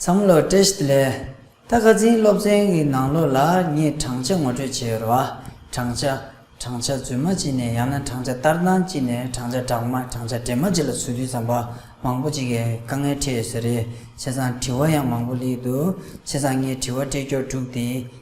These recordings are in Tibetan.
བསམ་བློ Test ལས། ད་ག་ཟིན་སློབ་ཚན་གྱི་ནང་ལོགས་ལ་ངས་བགྲང་བྱ་ངོ་སྤྲོད་བྱས་ཡོད་རེད་བ། བགྲང་བྱ། བགྲང་བྱ་རྫུན་མ་བགྱིས་ནས་ཡང་ན་བགྲང་བྱ་ལྟར་སྣང་བགྱིས་ནས་བགྲང་བྱ་དྲག་མ་བགྲང་བྱ་འདྲེས་མ་བགྱིས་ལ་ཚུལ་མཐུན་ཟམ་པ་མང་པོ་ཅིག་གིས་དཀའ་ངལ་འཕྲད་ཡོད་ས་རེད་བྱས་ཙང་དྲི་བ་ཡང་མང་པོ་བསླེས་འདུག་བྱས་ཙང་ངས་དྲི་བ་སྤྲད་སྐྱོར་དྲུག་དེ་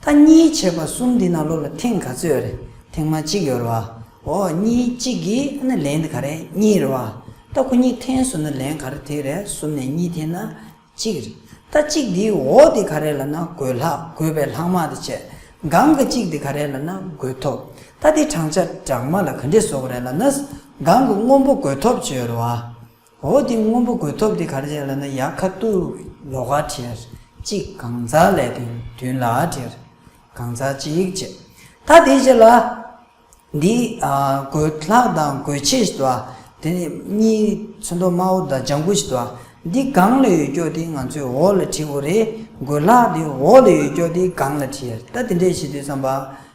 ཐ་གཉིས་བྱེད་པ་གསུམ་འདི་ན་ལོ་ལ་ཐེངས་ག་ཚོད་རེད་ཐེངས་མ་གཅིག་ཡོད་རེད་བ་ཨོ་གཉིས་གཅིག་གིས་ཨ་ན་ལན་ག་རེད་གཉིས་རེད་བ་ལྟ་ཁོ་གཉིས་ཐེངས་གསུམ་ན་ལན་ག་རེད་དེ་རེད་གསུམ་ནས་གཉིས་ཐེངས་ན་གཅིག་རེད་ལྟ་གཅིག་འདིའི་ཨོ་དེ་ག་རེད་ལ་ན་དགོས་ལྷག་དགོས་པའི་ལྷག་མ་དེ་བྱེད་གང་གི་གཅིག་དེ་ག་རེད་ལ་ན་དགོས་ཐོབ་ལྟ་དེ་བགྲང་བྱ་བགྲང་མ་ལ་ག་འདྲེ་སོགས་རེད་ལ་ན་གང་གི་དངོས་པོ་དགོས་ཐོབ་བྱོས་རེད་བ། འོ་དེ་སྔོན་པོ་གོས་ཐོབ་དེ་གར་བྱས་ལ་ན་ཡ་ཁ་ཏུ་ལོ་ག་བྲིར་གཅིག་གང་ཛྭ་ལའི་དོན་དུན་ལ་བྲིར་གང་ཛྭ་གཅིག་བྱས་ད་དེ་བྱས་ལ། འདི་གོས་ལྷག་དང་གོས་ཕྱེད་བྱས་ལ་དེ་ནས་གཉིས་ཚོན་མདོག་དམར་བོ་དང་ལྗང་གུ་བྱས་ལ་འདི་གང་ལ་ཡོད་ཀྱོ་དེ་ང་ཚོས་འོག་ལ་བྲིའོ་རེད་གོས་ལྷག་དེ་འོག་ལ་ཡོད་ཀྱོ་དེ་གང་ལ་བྲིར་ད་དེ་འདྲས་བྱེད་དུས་བསམ་པ།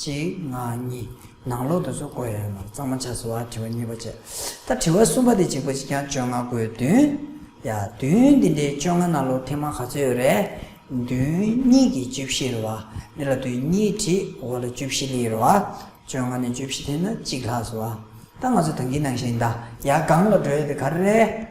གཅིག་ང་གཉིས་ནང་ལོག་དུ་སོགས་བཀོད་ཡོད་ལ་གཙང་མ་ཆགས་སོ་བ་དྲི་བ་གཉིས་པ་བཅས་ད་དྲི་བ་གསུམ་པ་དེ་གཅིག་པོ་གཅིག་རྐྱང་བཅོ་ལྔ་དགོས་བདུན། ཡ་བདུན་འདི་འདྲའི་བཅོ་ལྔ་ནང་ལོག་ཐེངས་མང་ག་ཚོད་ཡོད་རེད། བདུན་གཉིས་ཀྱི་བཅུ་བཞི་རེད་བ། འདི་ལ་བདུན་གཉིས་ཁྲི་འོ་ལ་བཅུ་བཞི་ལི་རེད་བ། བཅོ་ལྔ་ནས་བཅུ་བཞི་ཐེངས་ན་གཅིག་ལྷག་སོ་བ། ད་ང་ཚོ་དོན་གྱིས་ནང་བཞིན་ད་ཡ་གང་ལ་འགྲོ་ཡོད་དེ་ག་རེ་རེད།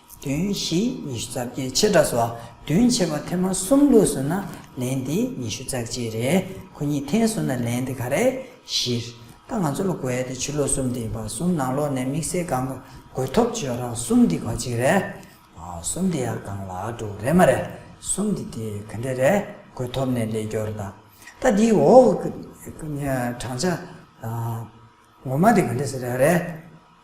བདུན་བཞི་ཉི་ཤུ་རྩ་བརྒྱད་ཕྱེད་དྲགས་སོ། བདུན་ཕྱེད་པ་ཐེངས་མ་གསུམ་ལུགས་སུ་ན་ལན་དེ་ཉི་ཤུ་རྩ་གཅིག་རེད། ཁོ་གཉིས་ཐེངས་གསུམ་ན་ལན་དེ་ག་རེ། བཞི། ད་ང་ཚོ་ལོ་འགའི་དེ་ཕྱི་ལོ་གསུམ་དེ་ཡིན་པ་གསུམ་ནང་ལོགས་ནས་དམིགས་བསལ་གང་དགོས་ཐོབ་བྱོས་རང་གསུམ་དེ་ག་ཅིག་རེད། གསུམ་དེ་ཡང་གང་ལགས་འདུག་རེད་མ་རེད། གསུམ་དེ་དེ་ག་འདྲ་རེད་དགོས་ཐོབ་ནས་ལས་སྐྱོར་ད། ད་དེའི་འོག་གི་བགྲང་བྱ། ངོ་མ་དེ་ག་འདྲ་ཟེར་ཡག་རེད།